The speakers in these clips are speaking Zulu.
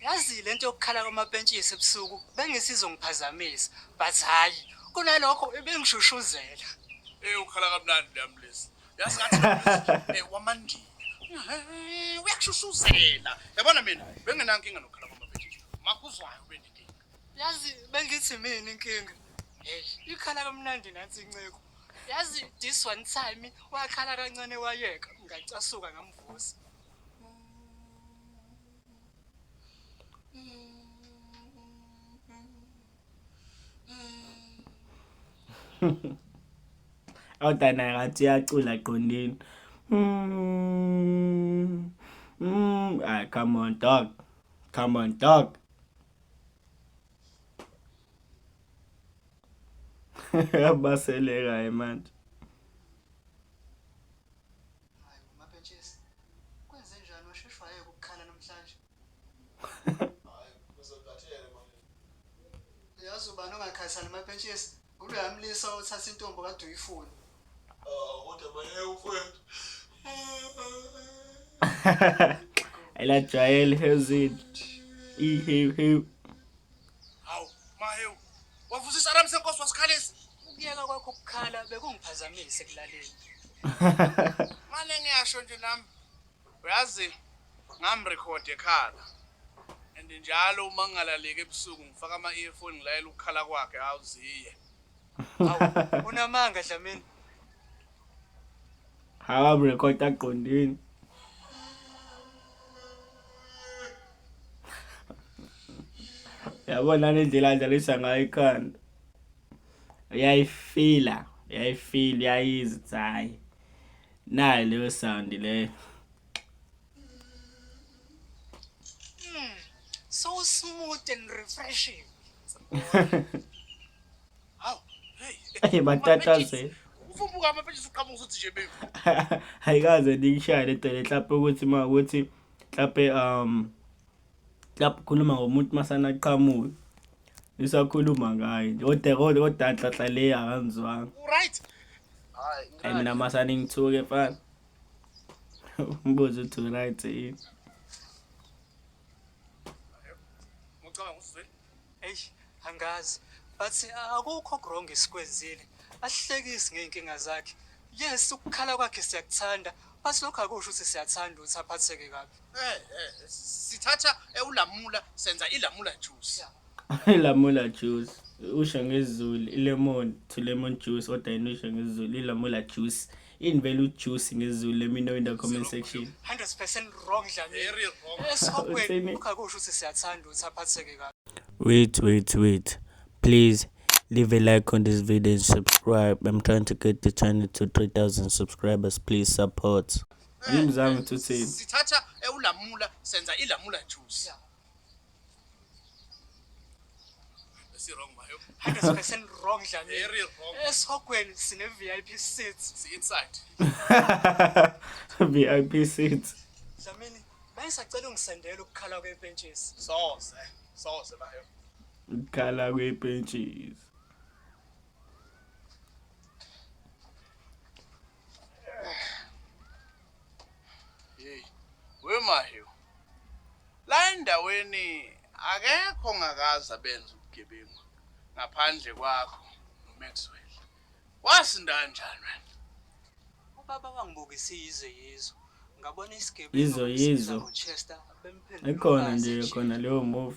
Yazi le nto yokukhala kwamapentshisi ebusuku bengisizongiphazamisa but hhayi kunalokho ibingishushuzela Eh ukhala kamnandi le ambulance. Yazi ngathi eh wamandini. Eh, Uyashushuzela. Yabona mina bengenankinga nokukhala kwamabhetshisi. Makuzwayo benenkinga. yazi bengithi mina inkinga heyi ikhala kamnandi nansi inceku yazi this one time wakhala kancane wayeka ngacasuka ngamvusa awudana ngathi uyacula qondini mm, mm, ah, come on dog come on dog abaselekayo manje Hayi bo mapentshisi. Kwenzenjani washesha wayeka ukukhala namhlanje? Uyazi ubani ongakhathali mapentshisi? Nguloya mlisa othatha intombi okade uyifuna. Ela Jael Hezin. E he he. Wavusisa Ramse Nkosi wasikhalisa. Ukuyeka kwakho ukukhala bekungiphazamise ekulaleni. Manje ngiyasho nje nami. Uyazi ngamrecord ekhala. And njalo uma ngingalaleki ebusuku ngifaka ama earphone ngilayela ukukhala kwakhe awuziye. Unamanga Dlamini. akaburekhodi aqondini yabona nendlela adlalisa ngayo ikhanda uyayifila uyayifila uyayizi ukuthi hhayi nayo leyo sound leyo hmm, so smooth and refreshing Hey batatazela. Ufumbuka amaphetshisi uqhamuka usuthi nje baby. Ayikaze ndikushaye le dele mhlawumbe ukuthi ma ukuthi mhlawumbe um mhlawumbe ukhuluma ngomuntu masana qhamuka. Isakhuluma ngaye. Kodwa kodwa odanhlanhla le akanzwanga. Right. Hayi. Hayi mina masana ngithuke mfana. Umbuzo uthi right yini? Eish, angazi. But akukho wrong esikwenzile. Asihlekisi ngey'nkinga zakhe. Yes, ukukhala kwakhe siyakuthanda. But lokho akusho ukuthi siyathanda ukuthi aphatheke kabi. Eh, eh, sithatha eh, ulamula senza ilamula juice. ilamula juice usha ngezulu ilemon to lemon juice odayinisha ngezulu ilamula juice in value juice ngezulu let me know in the comment section 100% wrong dlamini esihopweni ukhakusho ukuthi siyathanda ukuthi aphatheke kabi wait wait wait please leave a like on this video and subscribe i'm trying to get the channel to 3000 subscribers please support ngimzange uthini sithatha ewulamula senza ilamula juice Esirong mayo. Hada special wrong dlamini. Very wrong. Esihogweni sine VIP seats. Si inside. VIP seats. Dlamini, manje sacela ungisendele ukukhala kwebentshisi. Soze. Soze mayo. Ukukhala kwebentshisi. Hey, wemayo. La endaweni akekho ngakaza benza ubugebengu ngaphandle kwakho noMaxwell. Wasinda kanjani wena? Ubaba wangibukisa yize yizo. Ngabona isigebengu Yizo, yizo. ngoChester bemphendula ikhona nje khona leyo move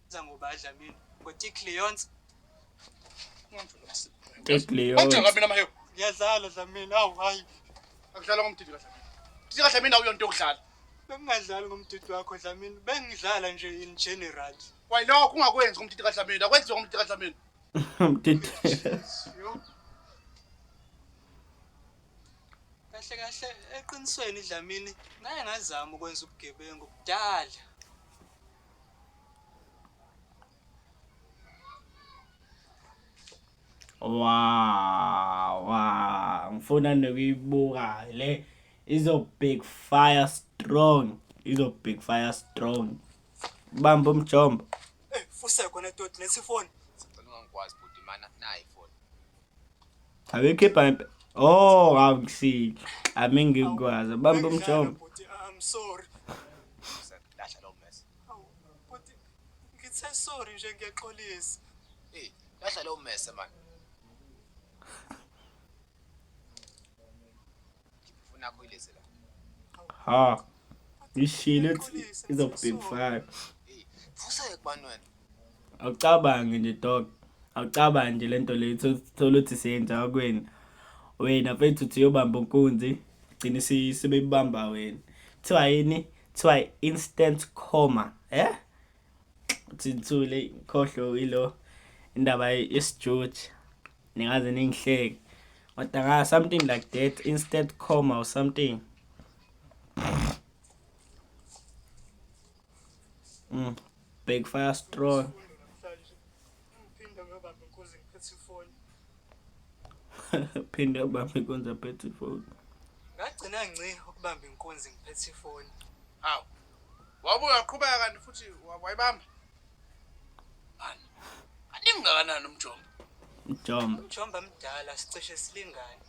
Za ngoba adla mina. Ngothi Cleons. Tekleyo. Kodwa ngabe namahewu. Ngiyadlala dla mina. Awu hayi. Akudlala ngomdidi kahle. Didi kahle mina uyonto yokudlala. Bengingadlali ngomdidi wakho dla mina. Bengidlala nje in general. Why no kungakwenzi ngomdidi kahle mina. Akwenziwe ngomdidi kahle mina. Mdidi. Yo. Kahle kahle eqinisweni dlamini ngaye ngazama ukwenza ubugebengu kudala. Wow, wow. Ngifuna nokuyibuka le izo big fire strong. Izo big fire strong. Bamba umjombo. Eh, fuse khona toti lesi phone. Sicela ungangikwazi bhuti mana nayi phone. Abekhipha impe. Oh, awukusiki. Ami ngikwazi. Bamba umjombo. I'm sorry. Lahla lowo mess. Hawu, bhuti, ngithe sorry nje ngiyaxolisa. Hey, lahla lowo mess man. Ngifuna kuyilezi la. Ha. Ishile izokubhekufaka. Hey, vusa ekubani wena. awucabange nje dog awucabange nje lento le thola ukuthi siyenza kwini wena mfethu uthi uyobamba unkunzi gcine sebeyibamba wena kuthiwa yini kuthiwa instant coma eh thithule khohlo ilo indaba yesijuju ningaze ningihleke kodwa nga something like that instant coma or something mm. Big fire strong. Phinde ubambe inkunzi aphethe ifoni. Ngagcina ngci ukubamba inkunzi ngiphethe ifoni. Hawu. Wabuya waqhubeka kanti futhi wa- wayibamba. Mani. Animngakanani umjombo? Jump. Umjomba mdala sicishe silingane.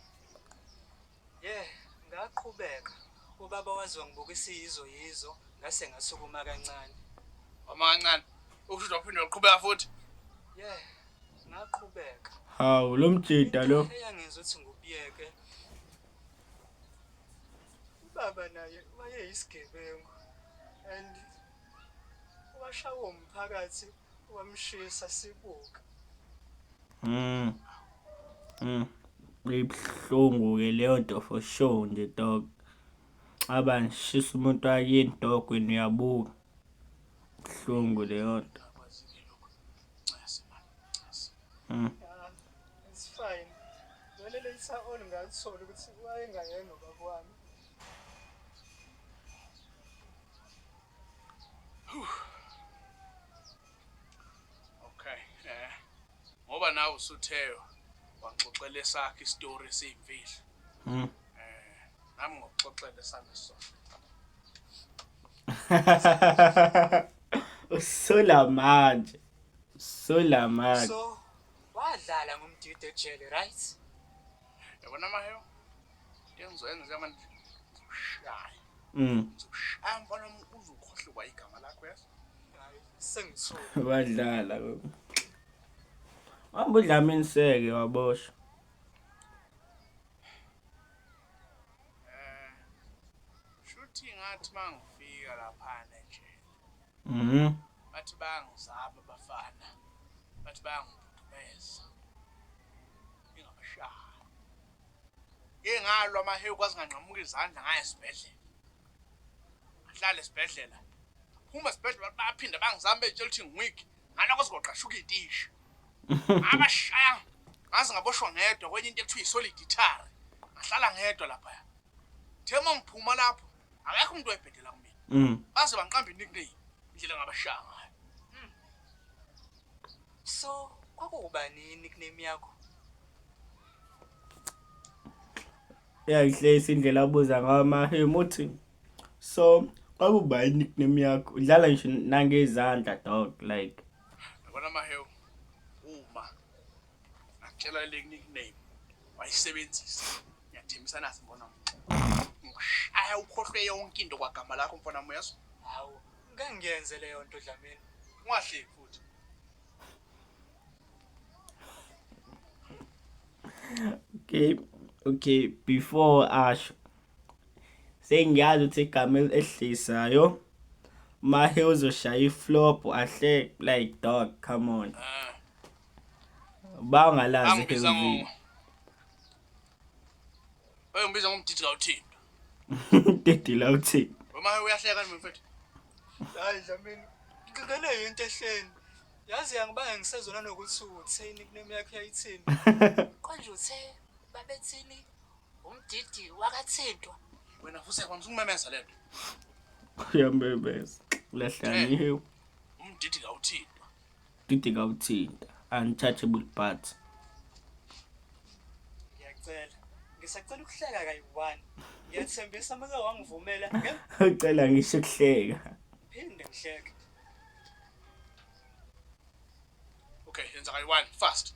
Yeah ngaqhubeka ubaba waze wangibuka isiyizo yizo ngase ngasukuma kancane. Uma kancane ukusho waphinde waqhubeka futhi. Yeah ngaqhubeka. Hawu lo mjida lo. Eyangizwe ukuthi ngubiyeke. Ubaba naye wayeyisigebengu and washawa umphakathi wamshisa sibuka mm mm ibuhlungu ke leyo nto for sure nje dog aba ngishisa umuntu wakini dog wena uyabuka buhlungu leyo nto mm it's fine vele leyisa all ngalithola ukuthi wayengayena ubaba wami Okay, eh. Ngoba nawe usutheyo waxoxela esakhe istory esiyimfihlo. Mhm. Eh, nami ngokuxoxela sami sona. Usola manje. Usola manje. So, wadlala ngomdidi ejele, right? yabona amahewu ngizoyenza manje ngizoshaye mm. ngizoshaye mfana omkuze ukhohlwa igama lakho yazi sengisole wadlala hamba udlama inseke waboshwa eh, shuthi ngathi mangifika laphana nje Mhm. Bathi bayangizaba abafana. Bathi bayangibhudumeza. Ngingabashaya. Ngike ngalwa amahewu kwaze nganqamuka izandla ngaya esibhedlela. Ngihlale esibhedlela. Phuma esibhedlela bathi baphinda bangizama betshela ukuthi ngiweak. Ngala kwaze kwaqashuka itishi. Abashaya ngaze ngaboshwa ngedwa kwenye into ekuthiwa isoliditary. Ngahlala ngedwa lapha. Thema ngiphuma lapho. akekho umuntu oyibhedela kumina mm. baze bangiqambe nickname indlela ngabashaya ngayo mm. so kwakuwubani nickname yakho yayihleyisa indlela abuza ngayo amahemu uthi so kwakuba i-nickname yakho udlala ngisho nangezandla dog like yabona mahewu uma ngakutshela le nickname wayisebenzisa ngiyathembisa nathi mbona ngikushaya ukhohlwe yonke into kwagama lakho mfana muyezwa hawu ngangiyenze leyo nto dlamini ungahleki futhi okay okay before asho sengiyazi ukuthi igama elihlisayo mahe uzoshaya iflop ahle like dog come on uh. bangalazi angibiza ngo ekhezini Hey ngibiza ngomdidi la uthini dedila uthi Uma uyahleka nje mfethu Hayi Dlamini, ngigqigqele yinto ehleni. Yazi yangibanga ngisezona nokuthi uthini kunemi yakho yayithini. Konje uthe babethini umdidi wakathintwa. wena futhi yakwazi ukumemeza lento uyamemeza lahlaniwe umdidi la uthini Didi kawuthinta untouchable but ngiyacela ngisacela ukuhleka kayi-one ngiyathembisa make wangivumela ucela ngisho ukuhleka phinde ngihleke okay yenza kayi-one fast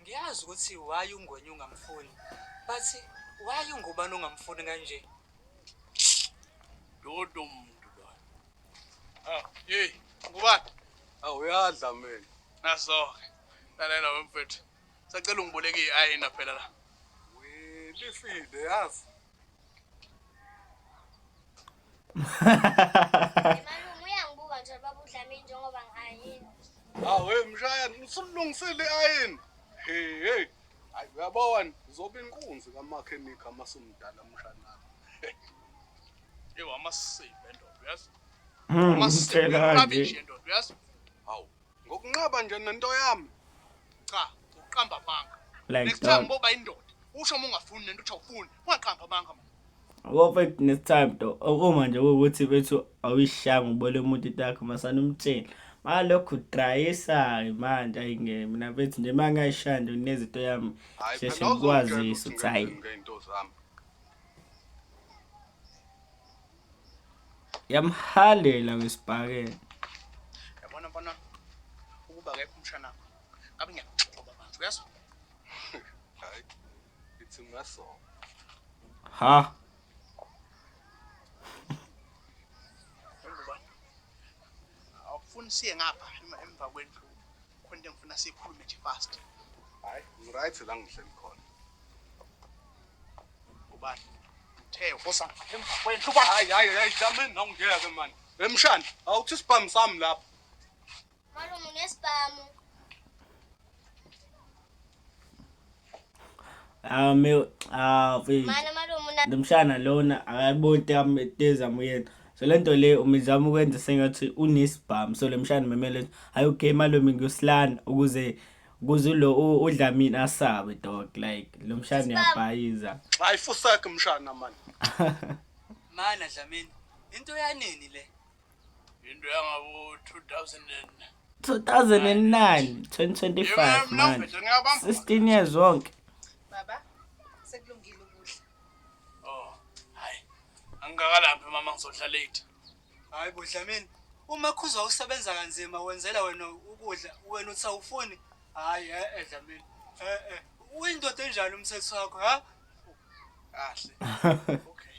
Ngiyazi ukuthi why ungwenye ungamfuni but why ungubani ongamfuni kanje? Dodo muntu lo. Ah, hey, ngubani? Awu uyadla mina. Nasoke. Lalela wemfethu. Sacela ungiboleke i-ayina phela la. Lifile yazi. Awe mshayana usulungisile ayini. Hey hey. Hayi uyabona uzoba inkunzi kamakhenikha masumdala mshana. Ewa amasebe ndoda uyazi. Amasebe ndoda uyazi. Hawu Ngokunqaba nje nento yami. Cha, uqamba amanga. Like Next time boba indoda. Usho uma ungafuni nento uthi awufuni. Ungaqamba amanga manje. Ngoba next time to uma nje ukuthi bethu awuyishanga ubole umuntu itakho masana umtshela. Malokhu drayisa manje ayingeke mina bethi nje mangayishanda unezinto yami sheshe ngikwazisa ukuthi hayi. yamhalela wesibhakela yabona bona ukuba kekho umshana wakho ngabe ngiyakuxoba manje uyazwa hayi ithi ungaso ha awufuni siye ngapha emva kwendlu khona into engifuna siyikhulume nje fast hayi ngiright la ngihleli khona ubani uthe ufosa emva kwendlu uba hayi hayi hayi jameni nawe ngeke mani emshana awuthi isibhamu sami lapho malume unesibhamu Ah me ah mfethu. Mana malume una Nomshana lona akayiboni tam teza muyena. So lento le umizama ukwenza sengathi unesibhamu. So lemshana memele hayi okay malume ngiyosilana ukuze ukuze lo u- udlamini asabe dog like lomshana uyabhayiza. Hayi fusakhe mshana mani. Mana Dlamini, into yanini le? into yangabo 2000 2009 2025 manje 16 years wonke baba sekulungile ukudla oh hayi angikalaphi mama ngizohlala late hayi bo Dlamini uma khuzwa usebenza kanzima wenzela wena ukudla wena uthi awufuni hayi eh, eh Dlamini eh eh uyindoda enjani umthetho wakho ha kahle okay